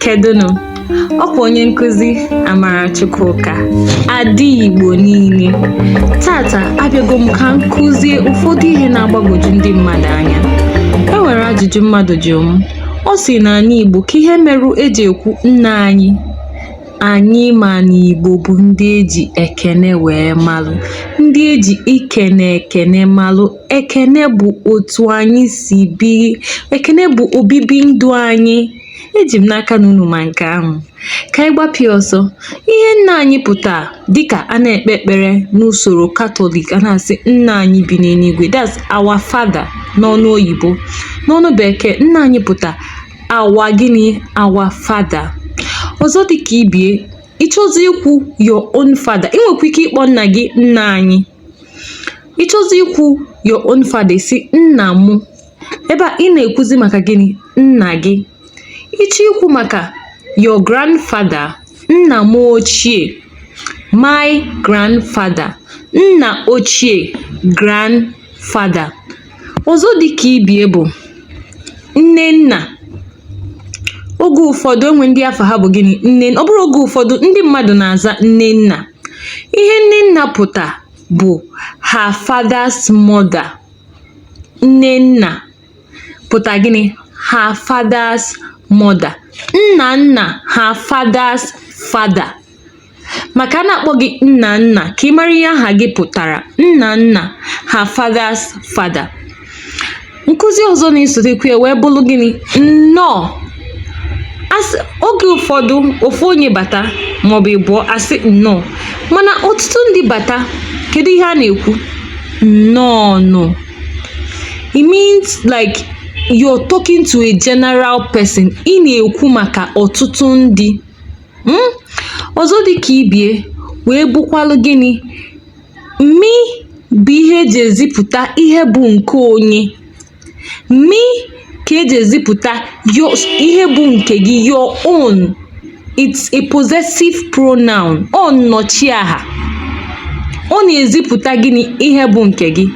kedụnụ ọkwa onye nkụzi Amarachukwuka ada Igbo niile taata abịago m ka m kụzie ụfọdụ ihe na-agbagwoju ndị mmadụ anya e nwere ajụjụ mmadụ jụrụ m ọ sị n'anị Igbo ka ihe merụ eji ekwu nna anyị anyị ma na Igbo bụ ndị eji ekene wee malụ ndị eji ikene ekene malụ ekene bụ otu anyị si biri ekene bụ obibi ndụ anyị eji m n'aka na unu ma nke ahụ ka anyị gbapịa ọsọ ihe nna anyị pụta dịka a na-ekpe ekpere n'usoro katọlik a na-asị nna anyị bi n'eluigwe that's our father n'ọnụ oyibo n'ọnụ bekee nna anyị pụta our gịnị our father ọzọ dịka ibie ị chọzi ikwu your own father ị nwekwa ike ịkpọ nna gị nna anyị ị chọzi ikwu your own father ị sị nna mụ ebe a ị na-ekwuzi maka gịnị nna gị ị chọọ ikwu maka your grandfather nna mụ ochie my grandfather nna ochie grandfather ọzọ dị ka ibie bụ nne nna oge ụfọdụ enwe ndị afa ha bụ gịnị nne ọ bụrụ oge ụfọdụ ndị mmadụ na-aza nne nna Ihe nne nna pụta bụ her father's mother. Nne nna pụta gịnị? Her father's mother. Nna nna her father's father. Maka a na-akpọ gị nna nna ka ị mara ihe aha gị pụtara. Nna nna her father's father. nkụzi ọzọ na-esotekwa ya wee bụlụ gịnị nnọọ asị oge ụfọdụ ofu onye bata maọbụ ịbụọ a sị nnọọ mana ọtụtụ ndị bata kedu ihe a na-ekwu nnọọ nụ it means like you're talking to a general person ị na-ekwu maka ọtụtụ ndị Hmm? ọzọ dị ka ibie wee bụkwalụ gịnị Mi bụ ihe eji ezipụta ihe bụ nke onye. Mi ka eji ezipụta your ihe bụ nke gị your own. It's a possessive pronoun. Ọ nnọchiaha. Ọ na-ezipụta gịnị? Ihe bụ nke gị.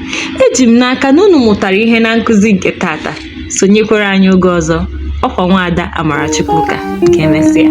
Eji m n'aka na unu mụtara ihe na nkụzi nke taata. Sonyekwara anyị oge ọzọ. Ọkwa nwaada Amarachukwuka. Ka emesịa.